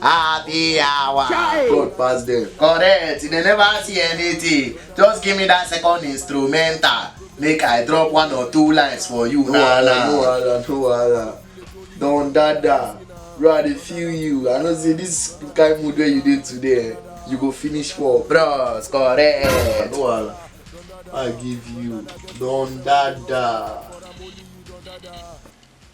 Happy hour. Chai. God pass them. Correct. You dey never see anything. Just give me that second instrumental. Make I drop one or two lines for you. No Nah, wahala, no nah. wahala, no wahala. Don dada, bro, I dey feel you. I know say this kind mood wey you dey today, eh, you go finish work. Bros, correct. No wahala. I give you Don dada.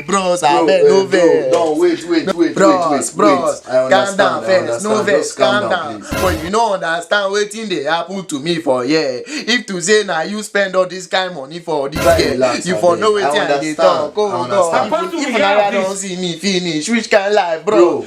bros, I beg, no vex. No, wait, wait, wait, wait, bros, bros, calm down first, no vex, calm down. But you no understand wetin dey happen to me for here. If to say na you spend all this kind money for this girl, you for know wetin I dey talk. Oh God, if Nara don see me finish, which kind life, bro?